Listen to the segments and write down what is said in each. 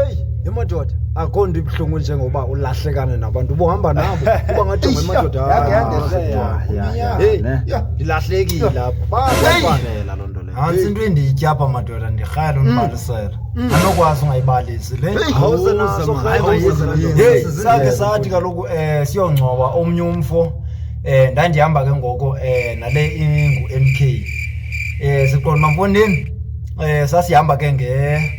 eyi yamadoda akho nto ibuhlungu njengoba ulahlekane nabantu ubuhamba nabo uba ngathi ngemadoda ndilahlekile aphafanela loo nto leyo nantsi into endiyityapha madoda ndirhaya lo ndibalisela mm. mm. anokwazi ungayibalisi le sakhe sathi kaloku um eh, siyongcwaba omnye umfo eh ndandihamba ke ngoko eh nale ingu MK eh siqonda mfondini eh sasihamba ke nge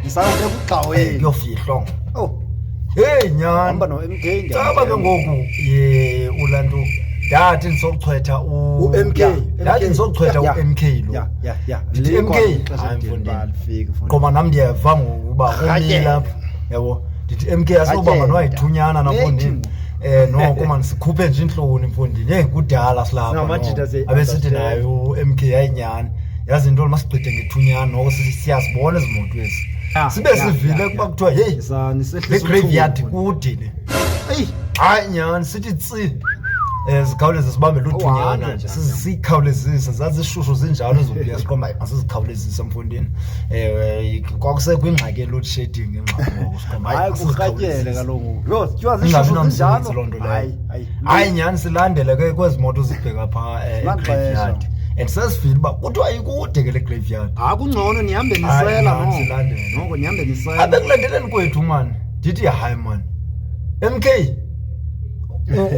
ndisawuke kugxaweli kuyofihlwa ngoku owu heyi nyhani hamba no-mk caba ke ngoku ye ulantu ndathi ndisochwetha u- U-MK, ya, ndathi MK. ndisochwetha Ya, ya. u-m k lo ya ya ya Ndithi Likhona MK? ixesha Hayi, elithile mfondini. uba alifiki, mfondini. qoma nam ndiyeva ngokuba Rhatyela. umile apha yabo ndithi m k asinoba Rhatyela. manowayithunyana Nethi nafondini mna. Eh noko man sikhuphe nje intloni mfondini. Hey kudala silapha. Singamajita noko. siya- Abesithi naye uMK ayinyani. Yazi intoni masigqide ngethunyana noko si- siyazibona izimoto ezi. Ya, Sibe ya, sivile ya, kuba ya. kuthiwa hey Sa- nisehlisa le graveyard uthuli, kude le. Eyi, Hayi nyani sithi tsi. Eh zikhawuleze sibambe Uhambe luthunyana nje nje. sizikhawulezise zazishushu zinjalo ezobuya siqomba asizikhawulezise mfondini. Eh kwakusekho ingxaki ye load shedding ingxaki ngoku. hayi kurhatyele kaloku yho tywa zishozinjalohayi nyhani silandele ke kwezi moto zibheka phaa eh, egraveyard and sesivile uba kuthiwa ikude ke le graveyard hayi kungcono nihambe nisela noko nihambe nisela abekulandeleni kwethu mani ndithi hayi mani MK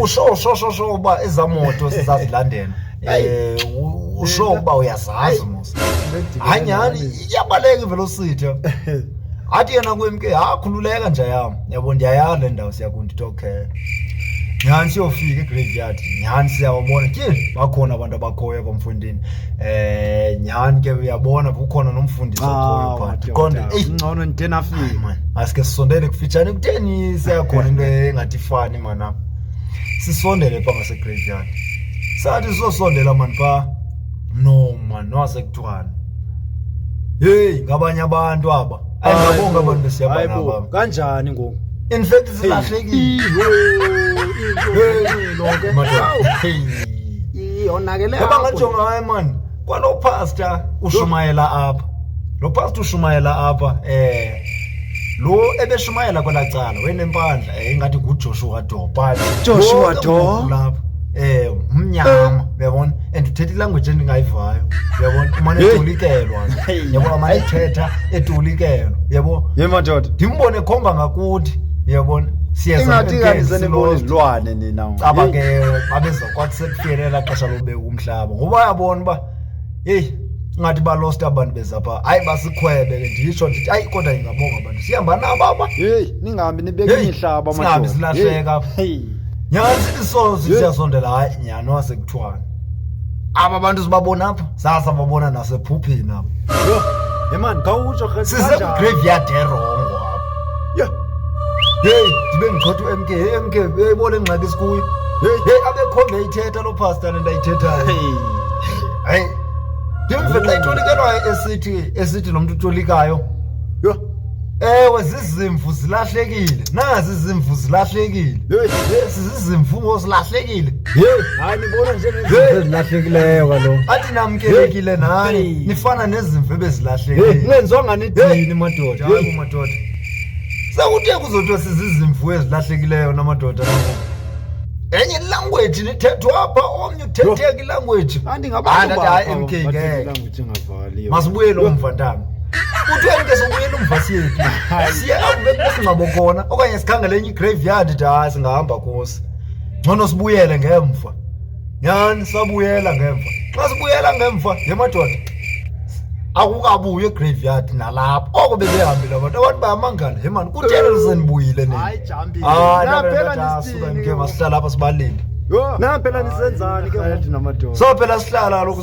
usho sho sho sho uba ezamoto sizazilandela eh u- usho uba uyazazi mos hayi nyhani iyabaleka ivelocity athi yena kwemke ha khululeka nja yam yabo ndiyayala le ndawo siya kundi tokhe nyhani siyofika egraveyard nyhani siyawabona tyhini bakhona abantu abakhoyo apha mfundini um nyhani ke uyabona kukhona nomfundisi okhoyo Ah, phaa ndiqonde madoda, eyi ngcono Hayi, ndinafika man asike sisondele kufitshane kutheni siyakhona into engathi ifani manam sisondele pha ngasegraveyard sathi sizosondela mani phaa no mani nowasekuthiwani heyi ngabanye abantu aba ayingabonga abantu besiyabona Hayibo, abantu kanjani ngoku in fact silahlekile Hey, Madoda. Hey. yonakele Yaba ngajonga hayi mani kwalo pastor ushumayela apha lo pastor ushumayela apha eh lo ebeshumayela kwela cala wenempandla eh, ingathi ngujoshua do but Joshua wonke Doe? umuntu lapha eh mnyama uyabona and uthetha ilanguage endingayivayo uyabona umane Hey. etolikelwa yabo amane ethetha etolikelwa yabo ye madoda ndimbone khomba ngakuthi uyabona siyeza ingathi kanti senibona izilwane nina caba ke babeza kwathi sekufike elaa xesha lobeka umhlaba ngoba uyabona uba heyi ingathi balost abantu bezapha hayi basikhwebe ke nditsho ndithi hayi kodwa ingabonga abantu sihamba nabo aba heyi ningahambi nibeke imihlaba singahambi silahleka nyhani sithi sozi siyasondela hayi nyhani wasekuthiwani aba bantu sibabona apha sasa babona nasephupheni apho Yho, hey man, khawutsho rhe- kanjani? sisegraveyard erongo apho Yho, heyi ndibe ndichotha umk heyi mk heyi bona ingxaki sikuyo heyi heyi abekhombe ithetha loo pasta le ndayithethayo hey. hayi ndimve xa itolikelwayo esithi esithi lo mntu utolikayo Yho, ewe zizimvu zilahlekile nazi zimvu zilahlekile ezi zizimvu ngozilahlekile hayi nibona njengezilahlekileyo kaloku athi namkelekile nani Hey. nifana nezimvu ebezilahlekile nenzonga nidini madoda Hayi kumadoda sekuthe kuzothiwa sizizimvu ezilahlekileyo namadoda enye ilanguage nithethwa apha omnye uthetheka ilanguage andingabantu Hayi, ndathi, hayi, bakho MK, ngeke. abathetha ilanguage engafani. masibuyele umva ntana uthweni ke sobuyela umva siyephi siye apho bekusingcwabo khona okanye sikhangele enye igraveyard de hayi singahamba kusi ngcono sibuyele ngemva nyhani sabuyela ngemva xa sibuyela ngemva ye madoda akukabuyi egraveyard nalapho oko bebehambile abantu abantu bayamangala he mani kutheni lisenibuyile ninisuke masihlala apha sibalinde so phela sihlala kaloku